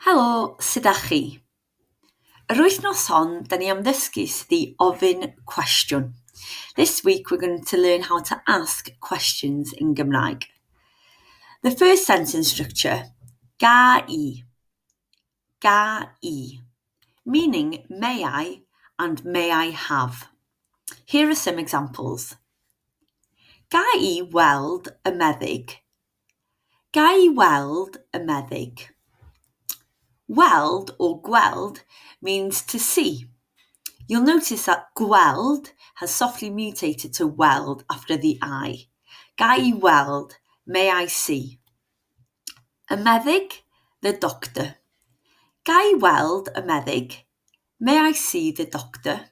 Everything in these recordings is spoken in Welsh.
Helo, sut 'da chi? Yr wythnos hon, da ni am ddysgu sut i ofyn cwestiwn. This week we're going to learn how to ask questions in Gymraeg. The first sentence structure, ga i, ga i, meaning may I and may I have. Here are some examples. Ga i weld y meddyg? Ga'i weld y meddyg? Weld or gweld means to see. You'll notice that gweld has softly mutated to weld after the 'i'. Ga'i weld, may I see. Y meddyg, the doctor. Ga'i weld y meddyg? May I see the doctor?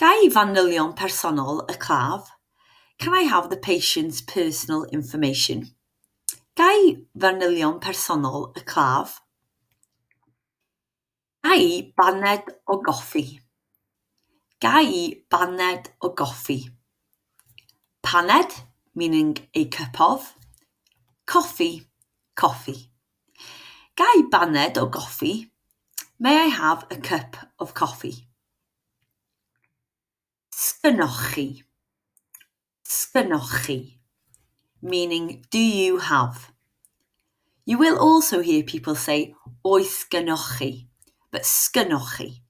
Ga'i fanylion personol y claf? Can I have the patient's personal information? Ga'i fanylion personol y claf? Ga'i baned o goffi? Ga'i baned o goffi? Paned, meaning a cup of. Coffi, coffi. Ga i baned o goffi? May I have a cup of coffee? Sgynnoch-chi, sgynnoch-chi. Meaning, do you have. You will also hear people say oes gynnoch-chi, but sgynnoch-chi,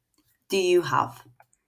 do you have.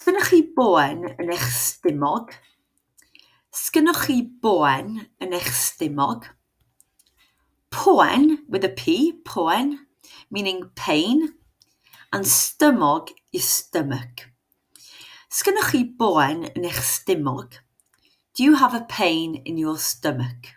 Sgynnoch chi boen yn eich stumog? Sgynnoch chi boen yn eich stumog? Poen, with a P, poen, meaning pain, and stumog is stomach. Sgynnoch chi boen yn eich stumog? Do you have a pain in your stomach?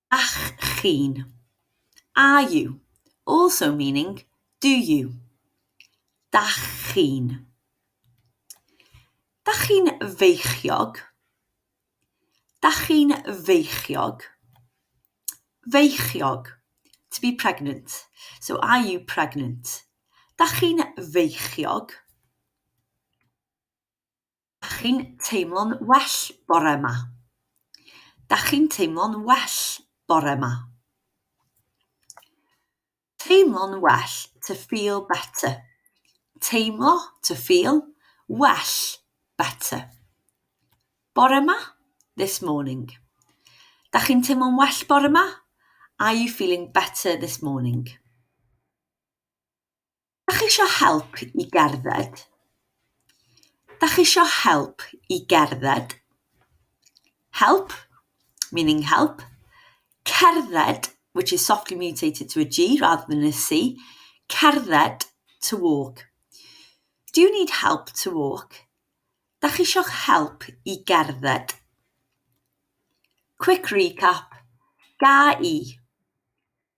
Ych chi'n, are you, also meaning do you. Dach chi'n. Dach chi'n feichiog? Dach chi'n feichiog? Feichiog, to be pregnant. So are you pregnant? Dach chi'n feichiog? Dach chi'n teimlo'n well bore 'ma? Dach chi'n teimlo'n well bore 'ma? Teimlo'n well, to feel better. Teimlo, to feel, well, better. Bore 'ma, this morning. Dach chi'n teimlo'n well bore 'ma? Are you feeling better this morning? Da chi isio help i gerdded? Da chi isio help i gerdded? Help, meaning help. Cerdded, which is softly mutated to a G rather than a C. Cerdded, to walk. Do you need help to walk? Da chi isio help i gerdded? Quick recap. Ga i.